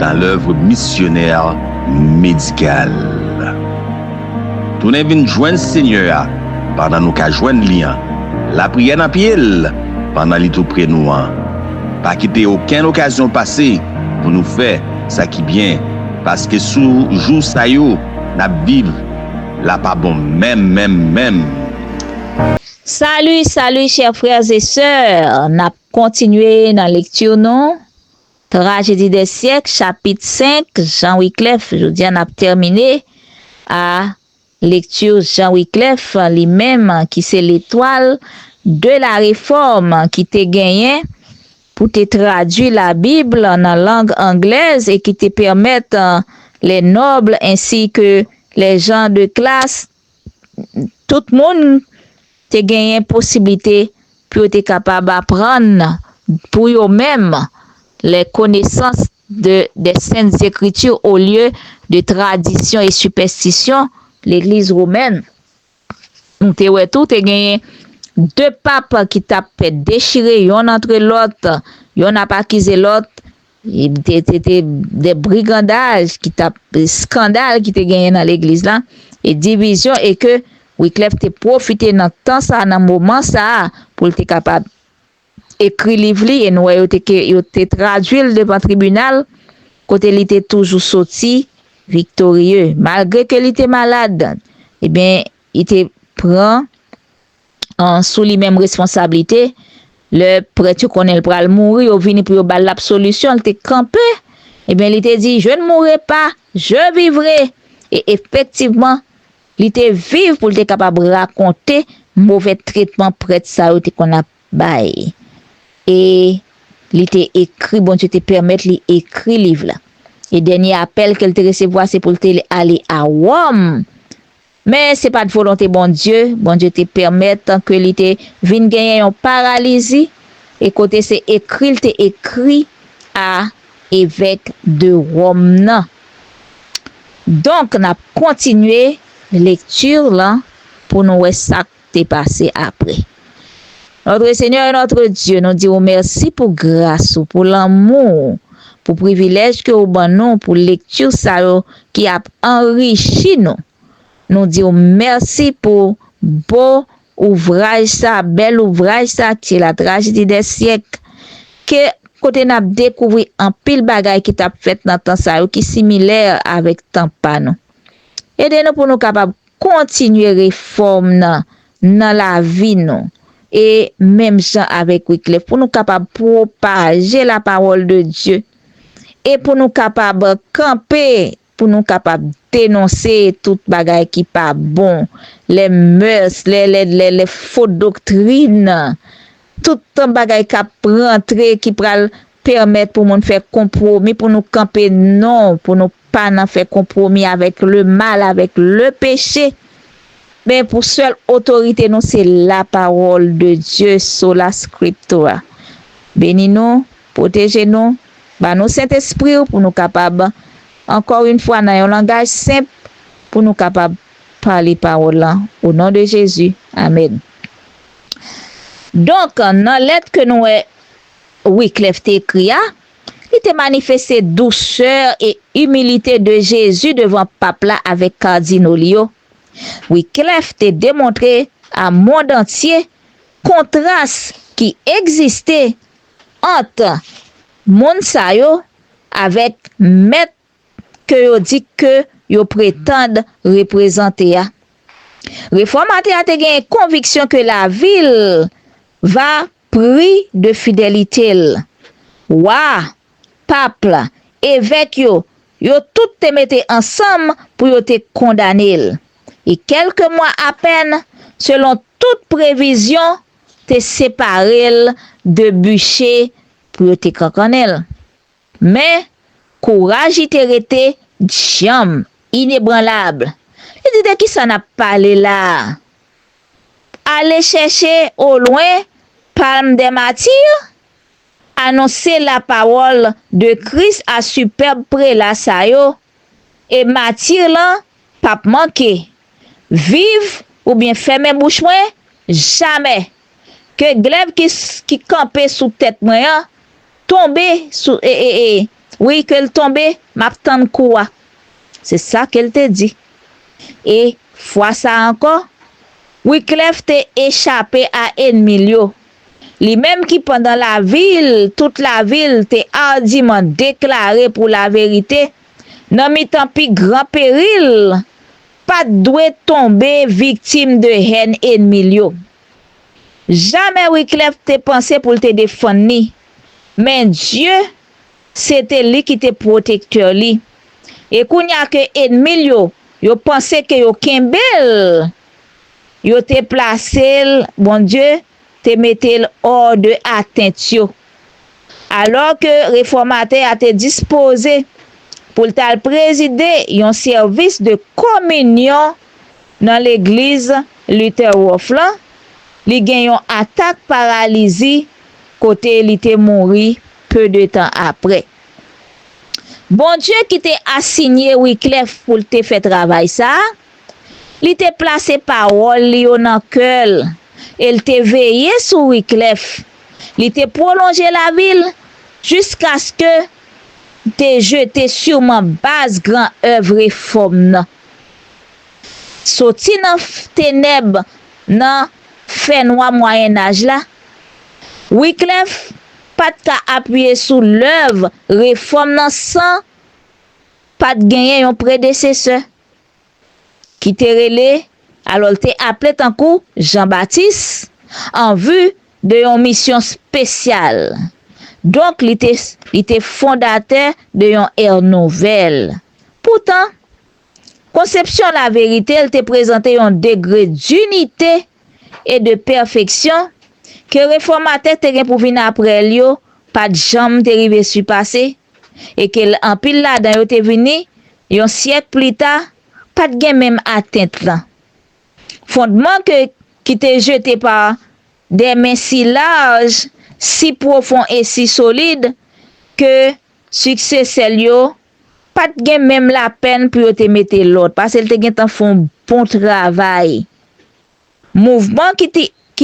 dans l'oeuvre missionnaire médicale. Tounen vin jwenn Senyè a pandan nou ka jwenn li an, lapriyè nan pye l pandan li tou pre nou an. Pa kite okenn okazyon pase pou nou fè sa ki byen, paske sou jou sa yo n ap viv la pa bon menm menm menm. Salut, salut chers frères et sœurs! Nap kontinye nan lecture nou. Trajedi dè syèk chapit 5 Jean Wiclef Jodi a n ap tèmine a lekti Jean Wiclef li menm ki se letwal de la refòm ki te genyen pou te tradui la bib nan lang anglèz e ki te pèmèt les nobles ainsi que les gens de classe tout moun te genyen posiblite pou yo te kapab aprann pou yo menm les connaissances de des saintes Écritures au lieu de traditions et superstitions l'Eglise romaine. Nou te wè tou te genyen 2 pap ki t ap dechire yonn antre lòt, yonn ap akize lòt, Te te te de brigandaj ki tap skandal ki te genyen nan legliz la e divizyon e ke Wiclef te pwofite nan tan sa nan moman sa pou l te kapab ekri liv li e nou wè yo te ke yo te tradwi l devan tribinal kote li te toujou soti viktorye malgre ke li te malad e byen li te pran sou li menm responsablite, lè prèt yo konnen l pral mouri, yo vini pou yo ba l lapsolisyon, l te kanpe, ebyen li te di, Je ne mourrai pas, je vivrai! E efektivman, li te viv pou l te kapab rakonte move tretman prèt sa yo te konn ap bay. E li te ekri, Bondye te pèmèt li ekri liv la. E dènye apèl ke l te resevwa se pou l te ale a Wòm Men, se pa t volonte Bondye, Bondye te pèmèt ke li te vin genyen yon paralizi, e kote se ekri l te ekri a evèk de Wòm nan. Donk, n ap kontinye lekti lan pou nou wè sa k. te pase apre. Notre Seigneur et Notre Dieu, nou di ou mèsi pou gras ou, pou lanmou ou, pou privilèj ke ou ban nou pou lekti sa yo ki ap anrichi nou. Nou di ou mèsi pou bo ouvraj sa, bèl ouvraj sa ki se la trajedi dè syèk, ke kote n ap dekouvri anpil bagay ki t ap fèt nan tan sa yo ki similè avèk tan pa nou. Ede nou pou nou kapab Kontinye refòm nan nan lavi nou e menm jan avèk Wyclef pou nou kapab pwopaje la pawòl de Dye e pou nou kapab kanpe pou nou kapab denonse tout bagay ki pa bon, les mœurs, les les les les fo doktrin Tout tan bagay kap rantre ki pral pèmèt pou moun fè konpwomi pou nou kanpe non pou nou pa nan fè konpwomi avèk le mal avèk le peche men pou sèl otorite nou se la pawòl de Dye sola scriptura beni nou pwoteje nou ba nou sentespriw pou nou kapab ankò yn fwa nan yon langaj senp pou nou kapab pale pawòl lan o non de Jezi amèn. Donk, nan lèt ke nou wè Wyclef te ekri a, li te manifeste dousè e imilite de Jezi devan Pap la avèk Kardino li yo. Wyclef te demontre a mond antye kontras ki egziste ant moun sa yo avèk mèt ke yo di ke yo pretand reprezante a. Refòmatè a te genyen konviksyon ke lavi l va pri de fidelite l. Wa, pap la, evèk yo, yo tout te mete ansanm pou yo te kondane l. E kèlke mwa apèn, selon tout previzyon, te separe l de biche pou yo te kankannen l. Men, kouraj li te rete djanm, inebranlab. Li di, De ki sa n ap pale la a? Ale chèche olwen Palm des Martyrs? Anonse lapawòl de Kris a sipèb prela sa yo E matir lan pap manke. Viv ou byen fèmen bouch mwen jamè ke glèv ki kanpe sou tèt mwen an tonbe sou e e e wi ke l tonbe map tann kou a se sa ke l te di e fwa sa ankò wiklèf te echape a enmi l yo. Li menm ki pandan lavi l, tout lavi l, te ardiman deklare pou laverite, nan mitan pi gran peril, pa t dwe tonbe viktim de hèn enmi l yo. Jamè Wyclef te panse pou l te defann li, men Dye, se te li ki te pwotektè li. E kounye a ke enmi l yo, yo panse ke yo kenbe l, Yo te plase l, Bondye, te mete l ò de atent yo. Alò ke refòmatè a te dispoze pou l t al prezide yon sèvis de kominyon nan legliz Lutherhof lan, li gen yon atak paralizi kote li te mouri peu de tan apre. Bondye ki te asigne Wyclef pou l te fè travay sa a, Li te plase pawòl li yo nan kè l e l te veye sou Wyclef. Li te pwolonje lavi l jiskaske l te jete siman baz gran èv refòm nan. Soti nan tenèb nan fènwa Mwayennaj la, Wyclef pa t ka apiye sou lèv refòm nan san pa t genyen yon predesesè. ki te rele, alò l te aple tankou Jan Batis, an vi de yon misyon spesyal. Donk li te li te fondatè de yon è nouvèl. Poutan, konsepsyon laverite l te prezante yon degre dinite e de pèfeksyon, ke refòmatè te gen pou vin apre l yo pa t janm te rive sipase, e ke l anpil ladan yo te vini, yon syèk plita, pa t gen menm atent lan. Fondman ke ki te jete pa de men si laj, si pwofon e si solid, ke siksesè l yo Pa t gen menm lapèn pou yo te mete lòd, pase l te gentan fè yon bon travay. Mouvman ki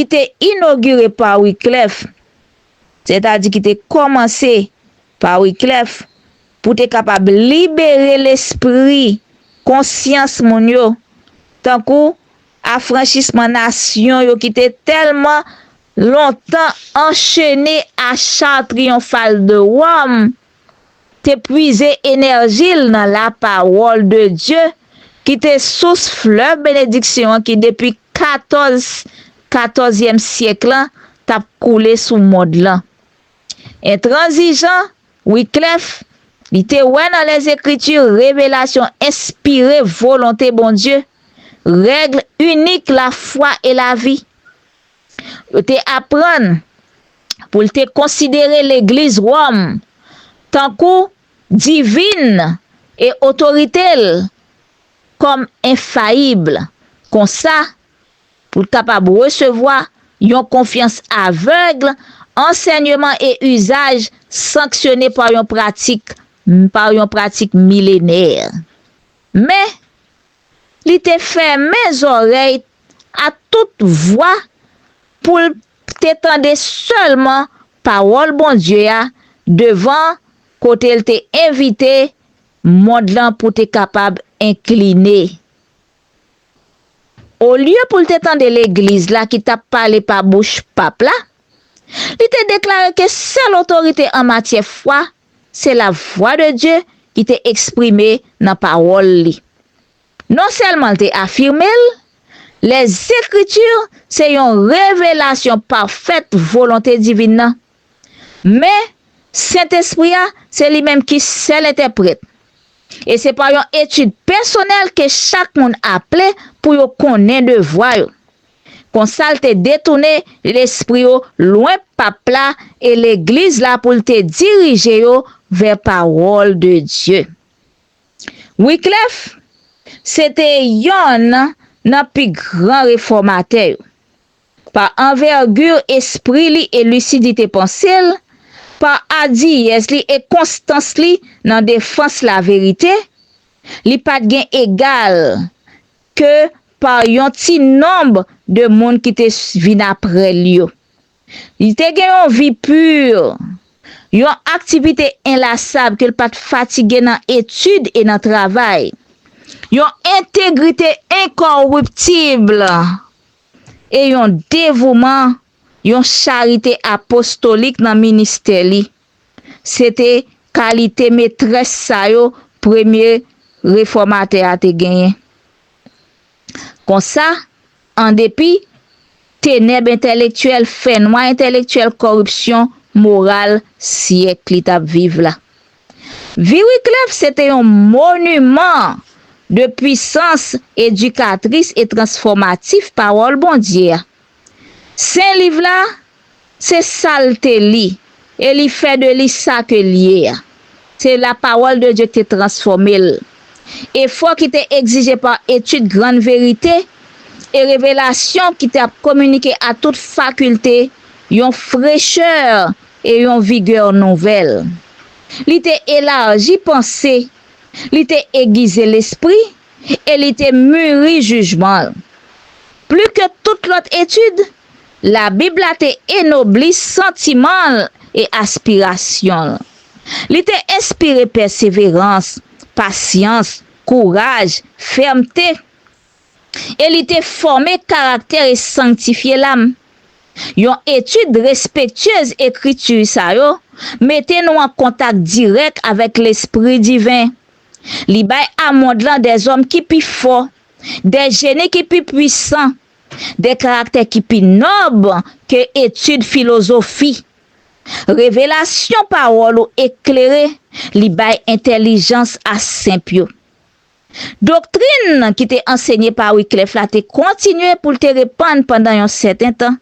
te inogire pa Wiklèf, sètadi ki te kòmanse pa Wiklèf, pou te kapab libere lespri, konsyans moun yo, tankou afranchisman nasyon yo ki te tèlman lontan anchene a Char Triyonfal de Wòm, te pwize enèji l nan lapawòl de Dye ki te sous flèv benediksyon an ki depi katòz katòzyèm syèk lan t ap koule sou mond lan. Entranzijan, Wyclef, li te wè nan Lèzekriti revelasyon enspire volonte Bondye, règle unique la foi et la vie. Yo te aprann pou l te konsidere Legliz Wòm tankou divin e otorite l kòm enfayib, konsa, pou l kapab resevwa yon konfyans avèg, ansènyman e izaj sanksyone pa yon pratik pa yon pratik milenè. Men, Li te fèmen zòrèy a tout vwa pou l te tande sèlman pawòl Bondye a devan kote l te envite mond lan pou te kapab enkline. Olye pou l te tande legliz la ki t ap pale pa bouch pap la, li te deklare ke sèl otorite an matyè fwa Se lavwa de Dye ki te eksprime nan Pawòl li. Nonsèlman l te afime l, Lèzekritì se yon revelasyon pafèt volonte divin nan, men, Sentespri a se li menm ki sèl entèprèt, e se pa yon etid pèsonèl ke chak moun aple pou yo konnen devwa yo. Konsa l te detounen lespri yo lwen Pap la e Legliz la pou l te dirije yo vè pawòl de Dye. Wiklèf se te yonn nan pi gran refòmatè yo. Pa anvègi espri li e lisidite panse l, pa adiyès li e konstans li nan defans laverite, li pa t gen egal ke pa yon ti nonb de moun ki te vin apre l yo. Li te gen yon vi pur, yon aktivite enlasab ke l pa t fatige nan etid e nan travay, yon entegrite enkoriptibl e yon devouman, yon charite apostolik nan ministè li. Se te kalite metrès sa yo premye refòmatè a te genyen. Konsa, andepi tenèb entèlektyèl, fènwa entèlektyèl kòripsyon moral syèk li t ap viv la, Viriklèf se te yon moniman de pwisans edikatris e transfòmatif Pawòl Bondye a. Sen Liv la, se sa l te li, e li fè de li sa ke l ye a. Se la Pawòl de Dye ki te transfòme l. Efò ki te egzije pa etid grann verite e revelasyon ki t ap kominike a tout fakilte yon frechè e yon vigè nouvèl. Li te elaji panse, li te egize lespri, e li te muri jijman l. Pli ke tout lòt etid, Labib la te enobli santiman l e aspirasyon l. Li te enspire pèseverans, pasyans, kouraj, fèmte, e li te fòme karaktè e sangtifye lam. Yon etid respektyez ekriti sa yo mete nou an kontak dirèk avèk lespri diven, Li bay a mond lan de zòm ki pi fò, de jeni ki pi puisan, de karaktè ki pi nòb ke etid filozofi. Revelasyon pawòl ou eklere, li bay entèlijans a senp yo. Doktrin ki te ansenye pa Wyclef la te kontinye pou l te repann pandan yon sèten tan,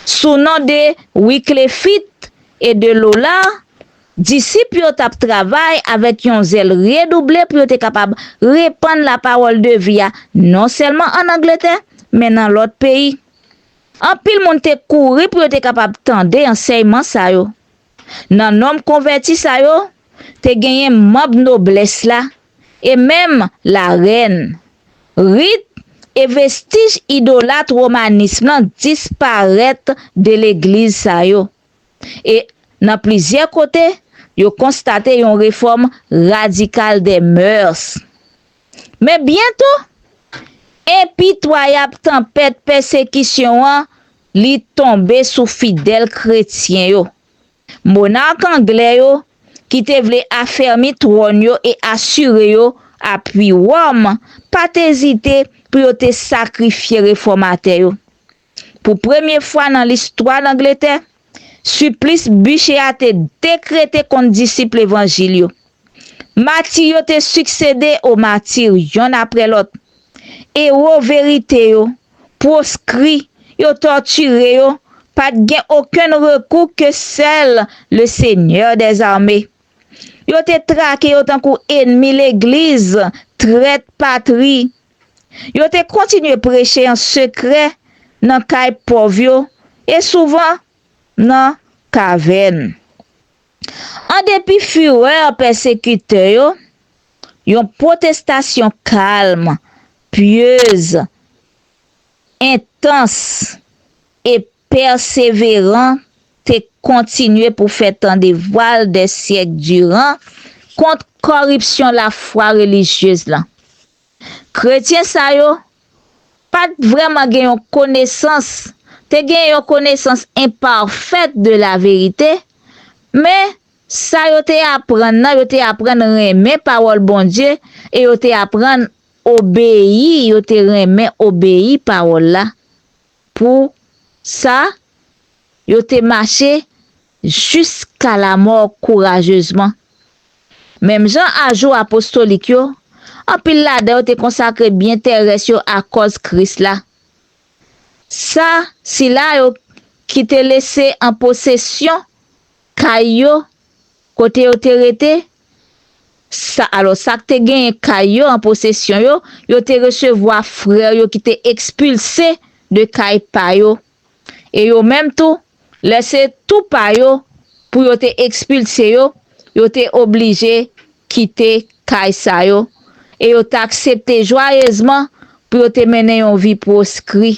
sou non de Wiclefit e de Lola, disip yo t ap travay avèk yon zèl redouble pou yo te kapab repann lapawòl de vi a non sèlman ann Angletè, men nan lòt peyi. Anpil moun te kouri pou yo te kapab tande ansèyman sa yo. Nan nonm konvèti sa yo, te genyen manb noblès la e menm larèn. Rit e vestij idolat womanism lan disparèt de legliz sa yo e, nan plizyè kote, yo konstate yon refòm radikal dè mœurs. Men byento, enpitwayab tanpèt pèsekisyon an Li tonbe sou fidèl kretyen yo. Monark anglè yo, ki te vle afèmi twòn yo e asire yo apui Wòm, pa t ezite pou yo te sakrifye refòmatè yo. Pou premye fwa nan listwa Langletè, siplis Bucer a te dekrete kont disip levanjil yo. Mati yo te siksede o mati yonn apre lòt. Ewo verite yo, pwoskri, yo tòtire yo, pa t gen okenn rekou ke sèl le Senyè dè zame. Yo te trake yo tankou enmi legliz, trèt patri. Yo te kontinye preche an sekrè nan kay pòv yo e souvan nan kavèn. An depi fureur pèsekitè yo, Yon pwotestasyon kalm, pyez, entans, e pèseveran te kontinye pou fè tande vwa l dè syèk diran kont kòripsyon lafwa relijyez lan. Kretyen sa yo pa t vrèman gen yon konesans, te gen yon konesans enpafèt de laverite, men Sa yo te aprann nan, yo te aprann renmen pawòl Bondye e yo te aprann obeyi, yo te renmen obeyi pawòl la. Pou sa, yo te mache jiska lamò kourajezman. Menm jan a jou apostolik yo, anpil ladan yo te konsakre byen terès yo akòz Kris la. Sa, sila yo ki te lese an posesyon Kay yo, kote yo te rete, sa, alò, sa k te genyen kay yo an posesyon yo, yo te resevwa frè yo ki te ekspilse de kay pa yo. E yo menm tou, lè se tou pa yo pou yo te ekspilse yo, yo te oblije kite kay sa yo, e yo t aksepte jwayezman pou yo te mennen yon vi pwoskri.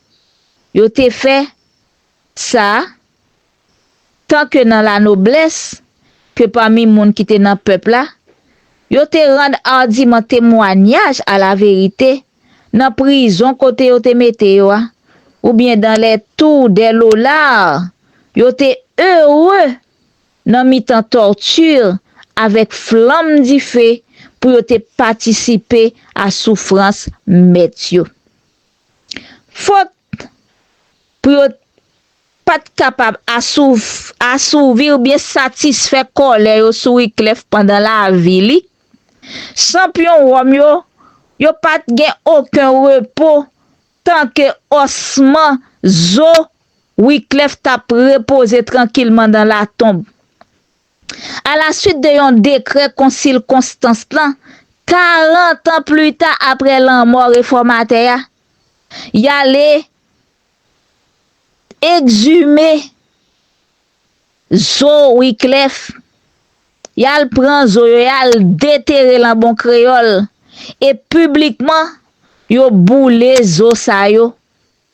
Yo te fè sa, tan ke nan la noblès, ke pami moun ki te nan pèp la, yo te rann ardiman temwanyaj a la verite nan prizon kote yo te mete yo a, ou byen dan lè tou dè lolar, yo te ere nan mitan tortur avèk flanm dife pou yo te patisipe a soufrans mèt yo. Fot pou yo pa t kapab asouvi oubyen satisfè kòlè yo sou Wyclef pandan lavi li, chanpyon Wòm yo, yo pa t gen oken repo tanke osman zo Wyclef t ap repoze trankilman nan latonb. A la suit de yon dekrè konsil Konstans lan, karantan plita apre lanmò refòmatè a, y ale ekzime zo Wiklèf, y al pran zo yo, y al detere l an bon kreyòl, e piblikman yo boule zo sa yo.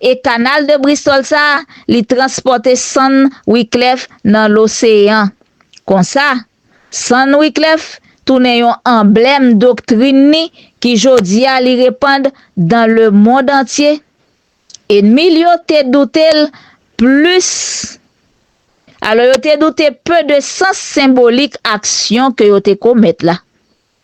E Kanal de Bristol sa a, li transpòte sann Wyclef nan loseyan. Konsa, sann Wyclef tounen yon anblèm doktrin ni ki jodi a li repand dan le mond antye. Enmi l yo te doute l plis alò yo te doute pe de sans senbolik aksyon ke yo te komèt la.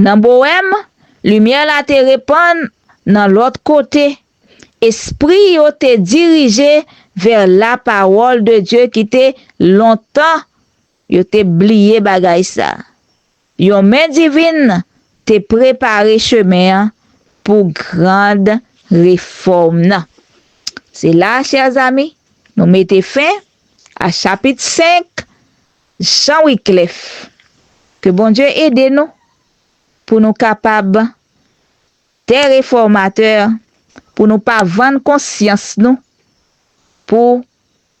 Nan Bohèm, limyè la te repann nan lòt kote. Espri yo te dirije vè lapawòl de Dye ki te lontan yo te bliye bagay sa. Yon men divin te prepare chemen an pou grand refòm nan. Se la, chers amis, nou mete fen a chapit 5 Jean Wiclef, Ke Bondye ede nou pou nou kapab des reformateurs pou nou pa vann konsyans nou pou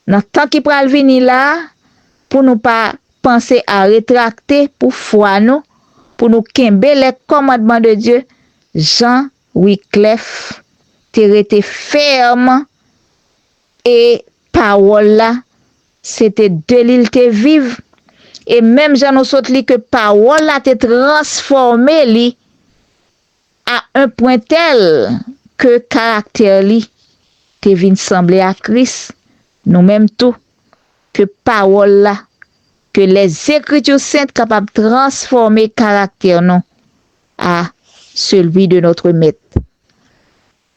nan tan ki pral vini la a pou nou pa panse a retrakte pou fwa nou pou nou kenbe lè kòmandman de Dye Jean Wiclef te rete fèm E Pawòl la, se te de Li L te viv, e menm jan nou sot li ke Pawòl la te transfòme Li a un pwen tèl ke karaktè Li te vin sanble a Kris, nou menm tou, ke Pawòl la, ke lèzekritu sent kapab transfòme karaktè nou a celui de notre Mèt.